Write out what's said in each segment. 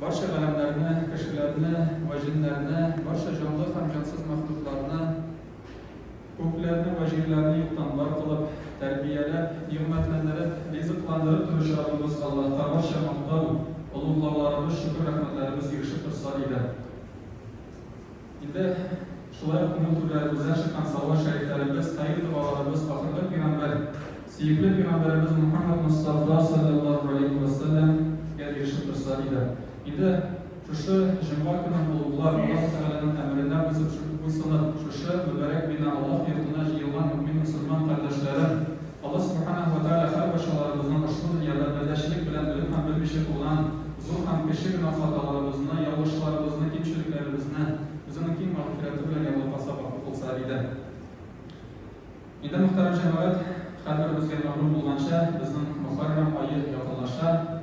Барча галәмнәрне, кешеләрне вә җеннәрне, барча җанлы һәм җансыз мәхлукларны, күкләрне вә җирләрне юктан бар кылып, тәрбияләп, нигъмәтләндереп, ризыкландырып торучы Раббыбыз Аллаһка барча мактау, олуглауларыбыз, шөкер-рәхмәтләребез ирешеп торса иде! Инде шулай ук моң түрләребездән чыккан салават шәрифләребез, хәер догаларыбыз, ахырлы пигамбәр, сөекле пигамбәребез Мөхәммәд Мостафа салләллаһу галәйһи вә сәлләм гә ирешеп торса иде. Инде шушы җомга көнен олуглар, Аллаһу Тәгаләнең әмеренә буйсынып, шушы мөбарәк бина, Аллаһ йортына җыелган мөэмин-мөселман кардәшләрен, Алла Субханаһу ва Тәгалә һәр барчаларыбызның ошбу дөньяда пәрдәчелек белән белеп һәм белмичә кылган зур һәм кече генә хаталарыбызны, ялгышларыбызны, кимчелекләребезне Үзенең киң мәгъфирәте белән яулап-асрап гафу кылса иде. Инде, мөхтәрәм җәмәгать, һәрберебезгә мәгълүм булганча, безнең Мөхәррәм ае якынлаша.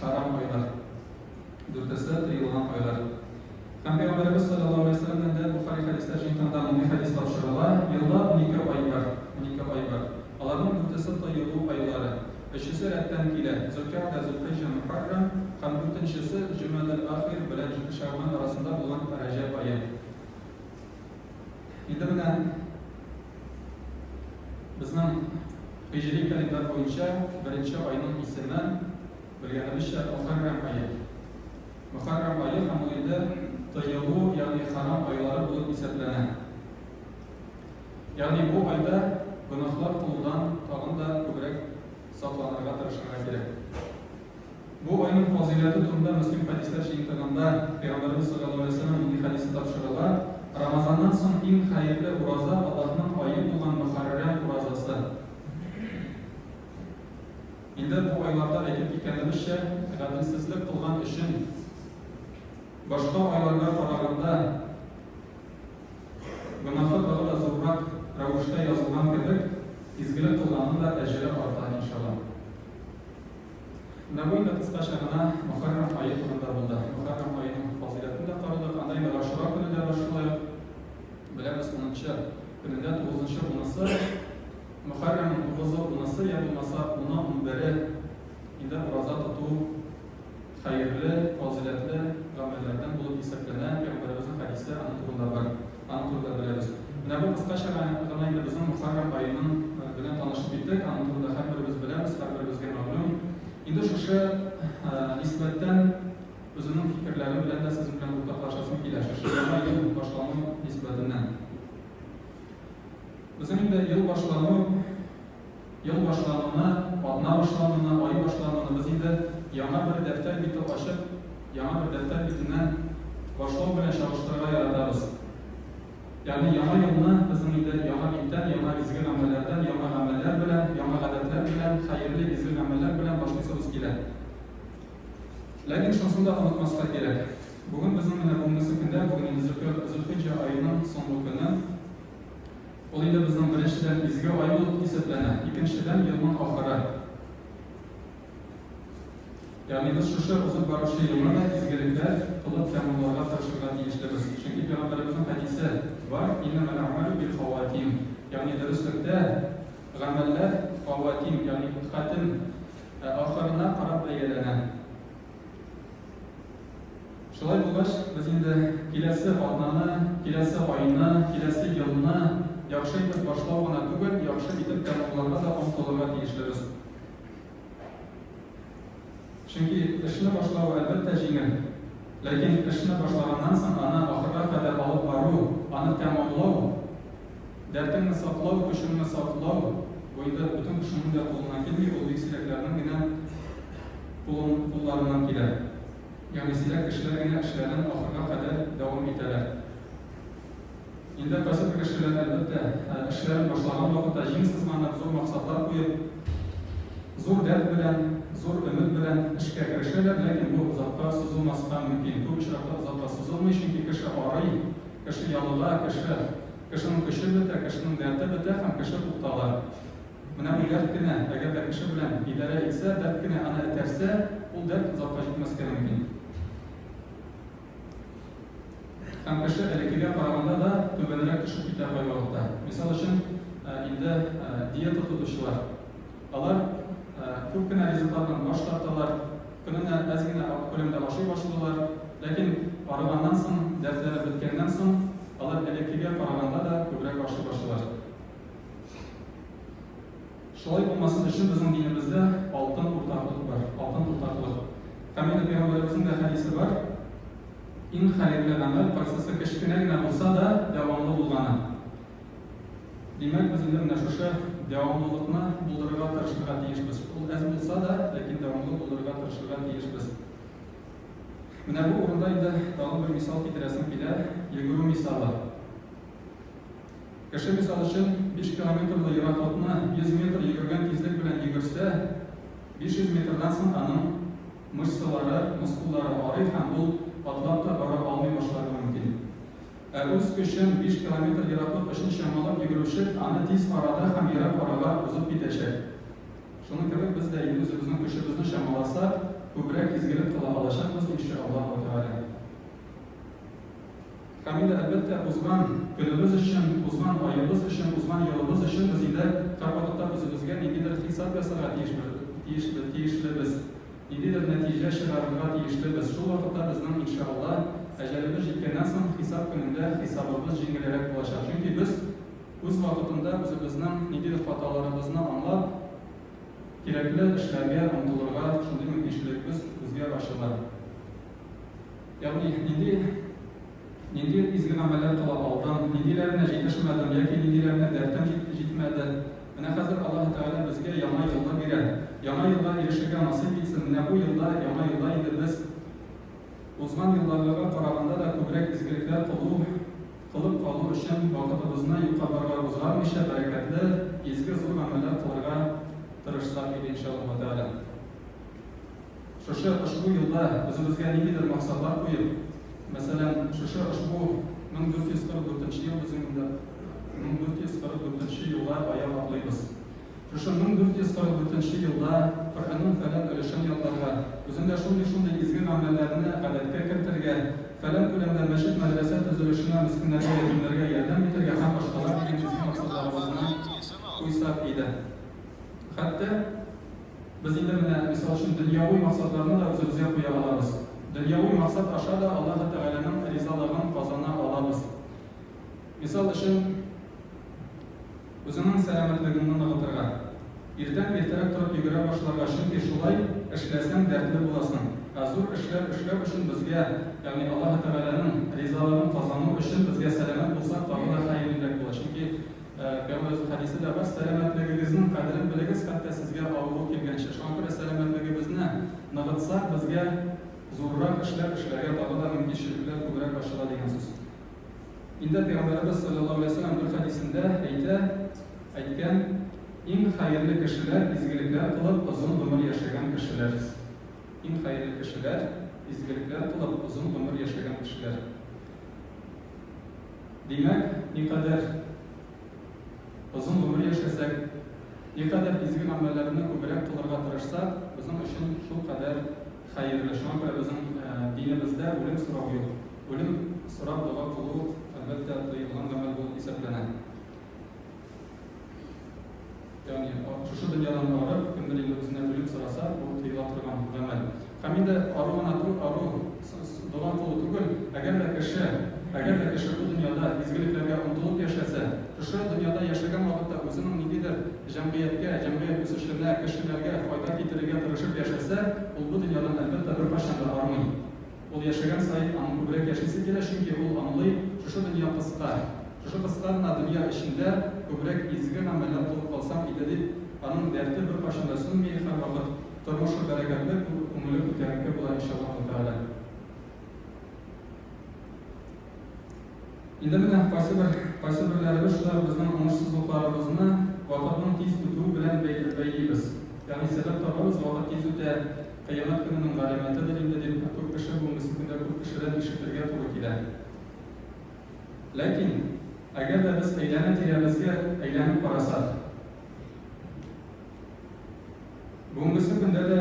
Харам айлар. Дүртесе тыелган айлар. Һәм Пәйгамбәребез салләллаһу галәйһи ва сәлләмнән дә Бохари хәдисләр җыентыгында мондый хәдис тапшырыла, Елда унике ай бар, унике ай бар. Аларның дүртесе тыелу айлары. Өчесе рәттән килә, Зөлкәгъдә, Зөлхиҗҗә, Мөхәррәм һәм дүртенчесе Җөмәдел ахир белән Шәгъбан арасында булган Рәҗәб ае. Инде менә безнең һиҗри календарь буенча беренче айның исеме, белгәнебезчә, Мөхәррәм ае. Мөхәррәм ае һәм ул инде тыелу, ягъни хәрам айлары булып исәпләнә. Ягъни бу айда гөнаһлар кылудан тагын да күбрәк сакланырга тырышырга кирәк. Бу айның фазыйләте турында Мөслим хәдисләр җыентыгында Пәйгамбәребез салләллаһу галәйһи ва сәлләм нинди хәдисне тапшыралар, Рамазаннан соң иң хәерле ураза Аллаһның ае булган Мөхәррәм уразасы. Инде бу айларда әйтеп киткәнебезчә, гаделсезлек кылган өчен башка айларга караганда гөнаһы тагы да зуррак рәвештә язылган кебек, изгелек кылганның да әҗере арта, иншаллаһ. Нәмуй да кыскача гына Мөхәррәм ае турында булды. Мөхәррәм аеның фазыйләтен дә карадык, анда инде Гашура көне дә бар, шулай ук беләбез, унынчы көнендә тугызынчы унысы, Мөхәррәмнең тугызы, унысы я булмаса уны, унбере инде ураза тоту хәерле, фазыйләтле гамәлләрдән булып исәпләнә, пәйгамбәребезнең хәдисе аның турында бар. Аның турында беләбез. Менә бу кыскача гына инде безнең Мөхәррәм аеның белән танышып киттек. Аның турында һәрберебез беләбез, һәрберебезгә мәгълүм. Инде шушы нисбәттән үземнең фикерләрем белән дә сез белән уртаклашасым килә. Шушы яңа ел башлану нисбәтеннән. Безнең инде ел башлану Ел башлануны, атна башлануны, ай башлануны без инде яңа бер дәфтәр бите ачып, яңа бер дәфтәр битеннән башлау белән чагыштырырга яратабыз. Ягъни яңа елны безнең инде яңа биттән, яңа изге гамәлләрдән, яңа гамәлләр белән, яңа гадәтләр белән, хәерле, изге гамәлләр белән башлыйсыбыз килә. Ләкин шунысын да онытмаска кирәк, бүген безнең менә бүгенге көндә, бүген инде Зөлхиҗҗә аеның соңгы көне. Ул инде безнең беренчедән изге ай булып исәпләнә, икенчедән елның ахыры. Ягъни без шушы узып баручы елны да изгелекләр кылып тәмамларга тырышырга тиешлебез. Чөнки Пәйгамбәребезнең хәдисе бар, Иннәмәл әгъмәлү бил-хаватим, ягъни дөреслектә гамәлләр хаватим, ягъни хатем, ә ахырына карап бәяләнә. Шулай булгач, без инде киләсе атнаны, киләсе айны, киләсе елны яхшы итеп башлау гына түгел, яхшы итеп тәмамларга да омтылырга тиешлебез. Чөнки эшне башлау, әлбәттә, җиңел. Ләкин эшне башлаганнан соң аны ахырга кадәр алып бару, аны тәмамлау, Дәртеңне саклау, көчеңне саклау бу инде бөтен кешенең дә кулыннан килми, ул бик сирәкләрнең генә кулларыннан килә. Ягъни сирәк кешеләр генә эшләрен ахырга кадәр дәвам итәләр. Инде кайсы бер кешеләр, әлбәттә, эшләрен башлаган вакытта җиң сызганып, зур максатлар куеп, зур дәрт белән, зур өмет белән эшкә керешәләр, ләкин бу озакка сузылмаска мөмкин. Күп очракта озакка сузылмый, чөнки кеше арый, Кеше ялыга, кеше. Кешенең көче бетә, кешенең дәрте бетә һәм кеше туктала. Менә бу дәрт кенә, әгәр дә кеше белән идарә итсә, дәрт кенә аны этәрсә, ул дәрт озакка җитмәскә мөмкин. Һәм кеше элеккегә караганда да түбәнрәк төшеп китә кайвакытта. Мисал өчен, инде диета тотучылар. Алар күп кенә ризыклардан баш тарталар. Көненә әз генә ак күләмдә ашый башладылар, ләкин арыганнан соң, дәртләре беткәннән соң, алар элеккегә караганда да күбрәк ашый башлыйлар. Шулай булмасын өчен безнең динебездә алтын уртаклык бар, алтын уртаклык. Камил пәйгамбәребезнең дә хәдисе бар, Иң хәерле гамәл, кайсысы кечкенә генә булса да, дәвамлы булганы. Димәк, без инде менә шушы дәвамлылыкны булдырырга тырышырга тиешбез. Ул әз булса да, ләкин дәвамлы булдырырга тырышырга тиешбез. Менә бу урында инде тагын бер мисал китерәсем килә, йөгерү мисалы. Кеше мисал өчен 5 километрлы ераклыкны 100 метр йөгергән тизлек белән йөгерсә, 500 метрдан соң аның мышцалары, мускуллары арый һәм ул атлап та бара алмый башларга мөмкин. Ә үз көчен, биш километр ераклык өчен чамалап йөгерүче аны тиз арада һәм ерак арага узып китәчәк. Шуның кебек без дә инде үзебезнең көчебезне чамаласак, күбрәк изгелек кыла алачакбыз, ин шә Аллаһу тәгалә. Һәм инде, әлбәттә, узган көнебез өчен, узган аебыз өчен, узган елыбыз өчен без инде һәрвакытта үзебезгә ниндидер хисап ясарга тиешбез, тиешлебез. Ниндидер нәтиҗә чыгарырга тиешле без. Шул вакытта безнең, иншаалла, әҗәлебез җиткәннән соң хисап көнендә хисабыбыз җиңелерәк булачак. Чөнки без үз вакытында үзебезнең ниндидер хаталарыбызны аңлап, кирәкле эшләргә омтылырга шундый мөмкинчелекбез үзгә ачыла. Ягъни нинди. Нинди изге гамәлләр кыла алдың, ниндиләренә җитешмәдең яки ниндиләренә дәртең җитмәде? Менә хәзер Аллаһы Тәгалә безгә яңа елны бирә. Яңа елга ирешергә насыйп итсен, менә бу елда, яңа елда инде без узган елдагыга караганда да күбрәк изгелекләр кылу, кылып калу өчен вакытыбызны юкка барга узгармыйча, бәрәкәтле, изге, зур гамәлләр кылырга тырышсак иде, иншаллаһу тәгалә. Шушы ошбу юлда үзебезгә ниндидер максатлар куеп, мәсәлән, шушы ошбу 1444 ел безнең 1444 елга аяк атлыйбыз. Шушы 1444 елда Коръәннең фәлән өлешен ятларга, үзендә шундый-шундый изге мәгънәләрне гадәткә кертергә, фәлән күләмдә мәчет-мәдрәсә төзелешенә, мескеннәргә, ятимнәргә ярдәм итәргә һәм башкалар дигән изге максатларыбызны куйсак иде. Хәтта. Без инде менә, мисал өчен, дөньяви максатларны да үзебезгә куя алабыз. Дөньяви максат аша да Аллаһы Тәгаләнең ризалыгын казана алабыз. Мисал өчен, үзеңнең сәламәтлегеңне ныгытырга. Иртән иртәрәк торып йөгерә башларга, чөнки шулай эшләсәң, дәртле буласың. Ә зур эшләр эшләү өчен безгә, ягъни Аллаһы Тәгаләнең ризалыгын казану өчен безгә сәламәт булсак, тагы да хәерлерәк була, чөнки, Пәйгамбәр үз хәдисендә бар, Сәламәтлегегезнең кадерен белегез, хәтта сезгә авыру килгәнче. Шуңа күрә сәламәтлегебезне ныгытсак, безгә зуррак эшләр эшләргә тагы да мөмкинчелекләр күбрәк ачыла дигән сүз. Инде Пәйгамбәребез салләллаһу галәйһи ва сәлләм бер хәдисендә әйтә, әйткән, Иң хәерле кешеләр, изгелекләр кылып, озын гомер яшәгән кешеләр. Иң хәерле кешеләр, изгелекләр кылып, озын гомер яшәгән кешеләр. Димәк, никадәр озын гомер яшәсәк, никадәр изге гамәлләрне күбрәк кылырга тырышсак, безнең өчен шулкадәр хәерле. Шуңа күрә безнең динебездә үлем сорау юк. Үлем сорап дога кылу, әлбәттә, тыелган гамәл булып исәпләнә. Ягъни, шушы дөньядан барып, кемдер инде үзенә үлем сораса, бу тыела торган гамәл. Һәм инде ару гына түгел, ару, дога кылу түгел, әгәр дә кеше, әгәр дә кеше бу дөньяда изгелекләргә омтылып яшәсә, шушы дөньяда яшәгән вакытта үзенең ниндидер җәмгыятькә, җәмгыять үсешенә, кешеләргә файда китерергә тырышып яшәсә, ул бу дөньядан, әлбәттә, беркайчан да армый. Ул яшәгән саен аның күбрәк яшисе килә, чөнки ул аңлый, шушы дөнья кыска. Шушы кыска гына дөнья эчендә күбрәк изге гамәлләр кылып калсам иде дип, аның дәрте беркайчан да сүнми, һәрвакыт тормышы бәрәкәтле, күңеле күтәренке була, иншаллаһу тәгалә. Инде менә кайсыбер кайсыберләребез шулай ук безнең уңышсызлыкларыбызны вакытның тиз үтүе белән бәй бәйлибез. Ягъни сәбәп табабыз, вакыт тиз үтә, кыямәт көненең галәмәтедер инде, дип бик күп кеше бүгенгесе көндә күп кешедән ишетергә туры килә. Ләкин, әгәр дә без әйләнә-тирәбезгә әйләнеп карасак. Бүгенгесе көндә дә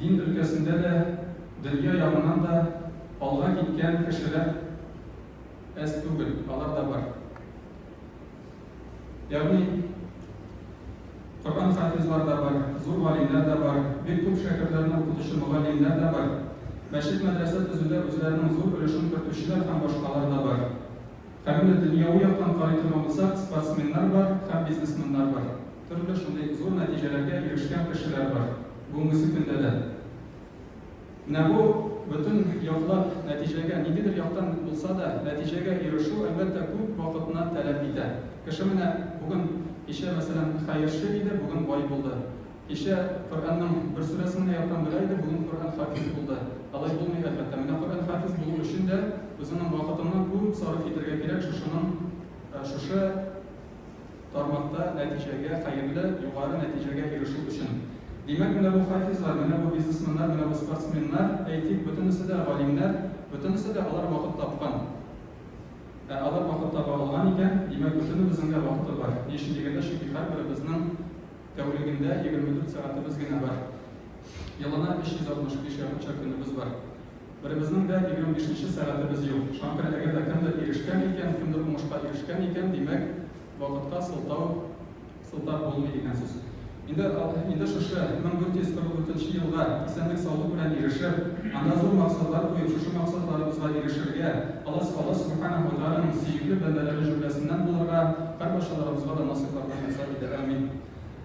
дин өлкәсендә дә, дөнья ягыннан да алга киткән кешеләр әз түгел, алар да бар. Ягъни Коръән хафизлар да бар, зур галимнәр дә бар, бик күп шәкертләрне укытучы мөгаллимнәр дә бар, мәчет-мәдрәсә төзүдә үзләренең зур өлешен кертүчеләр һәм башкалар да бар. Каләмне дөньяви яктан карый торган булсак, спортсменнар бар һәм бизнесменнар бар. Төрле шундый зур нәтиҗәләргә ирешкән кешеләр бар бүгенгесе көндә дә. Менә бу бөтен яклап нәтиҗәгә, ниндидер яктан булса да, нәтиҗәгә ирешү, әлбәттә, күп вакытны таләп итә. Кеше менә бүген, кичә, мәсәлән, хәерче иде, бүген бай булды. Кичә Коръәннең бер сүрәсен генә яттан белә иде, бүген Коръән хафиз булды. Алай булмый, әлбәттә. Менә Коръән хафиз булу өчен дә үзеңнең вакытыңны күп сарыф итәргә кирәк, шушының, шушы тармакта нәтиҗәгә, хәерле, югары нәтиҗәгә ирешү өчен. Димәк, менә бу хафизлар, менә бу бизнесменнар, менә бу спортсменнар, әйтик, бөтенесе дә галимнәр, бөтенесе дә алар вакыт тапкан. Ә алар вакыт таба алган икән, димәк, бөтенебезнең дә вакыты бар. Ни өчен дигәндә, чөнки һәрберебезнең тәүлегендә 24 сәгатебез генә бар. Елына 365 якынча көнебез бар. Беребезнең дә егерме бишенче сәгатебез юк. Шуңа күрә әгәр дә кемдер ирешкән икән, кемдер уңышка ирешкән икән, димәк, вакытка сылтау сылтап булмый дигән сүз. Инде, инде шушы 1444 елга исәнлек-саулык белән ирешеп, анда зур максатлар куеп, шушы максатларыбызга ирешергә, алас Аллаһ Сүбхәнәһү вә Тәгаләнең сөекле бәндәләре җөмләсеннән булырга һәрбарчаларыбызга да насыйп-рәхмәт ясар иде. Әмин.